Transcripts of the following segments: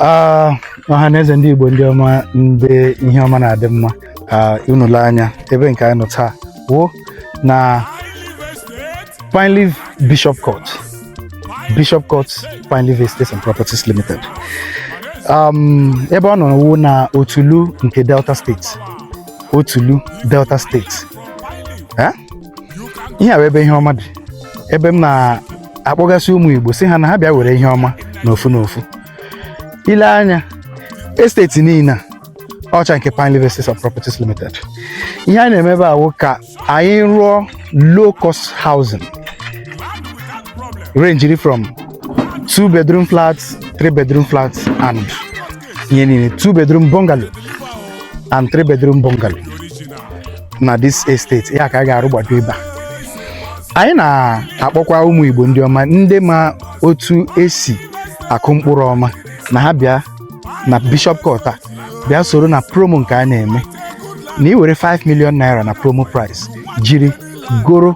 Ah, ọha na eze ndị igbo ndị ọma ndị ihe ọma na-adị mma ah, unu lee anya ebe nke anyị nọ taa wụ na Pine Leaf Bishop Court Bishop Court Pine Leaf Estates and Properties Limited um, ebe ọ nọ wụ na Otulu nke Delta State Otulu Delta State Eh? ihe a wụ ebe ihe ọma dị ebe m na-akpọgasị ụmụ Igbo sị ha na ha bịa were ihe ọma n'ofu n'ofu ile anya esteti niile a wụcha nke Pine Leaf Estates and Properties Limited ihe anyị na-eme ebe a wụ ka anyị rụọ low cost housing ranging from two bedroom flats three bedroom flats and ihe niile two bedroom bungalow and three bedroom bungalow na this estate a ka a ga-arụgbado ebe a anyị na-akpọkwa ụmụ Igbo ndị ọma ndị ma otu esi akụ mkpụrụ ọma na ha bịa na Bishop Court a bịa soro na promo nke a na-eme na ị were 5 million naira na promo price jiri goro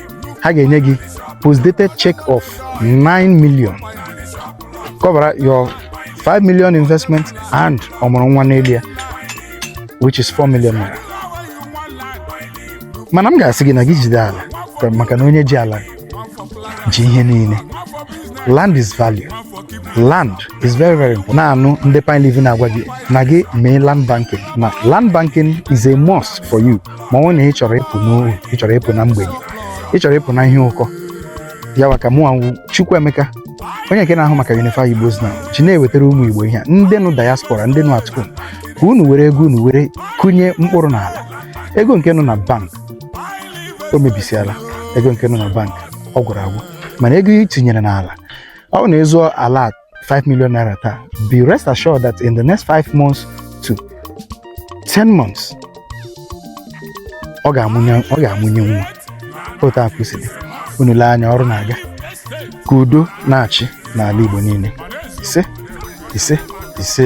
ha ga-enye gị postdated check of 9 million cover your 5 million investment and ọmụrụ nwa n'elu ya which is 4 million naira mana m ga-asị gị na gị jide ala aka maka na onye ji ala ji ihe niile land is value land is very very important na-anụ ndị Pine Leaf na-agwa gị na gị mee land banking na land banking is a must for you ma ọ wụ na ị chọrọ ịpụ n'ohu ị chọrọ ịpụ na mgbei ị chọrọ ịpụ na ihe ụkọ ya maka mụ a wụ Chukwuemeka onye nke na-ahụ maka Unify Igbo's Now ji na-ewetara ụmụ Igbo ihe a ndị nọ diaspora ndị nọ atụkụ ka unu were ego unu were kụnye mkpụrụ n'ala ego nke nọ na bank o mebisiala ego nke nọ na bank ọ gwụrụ agwụ mana ego i tinyere n'ala wụ n'ezi ala 5 million naira taa be rest assured that in the next 5 months to 10 months ọ ga-amụnye ọ ga-amụnye nwa otu a ka o si dị unu lee anya ọrụ na-aga ka udo na-achị n'ala Igbo niile ise ise ise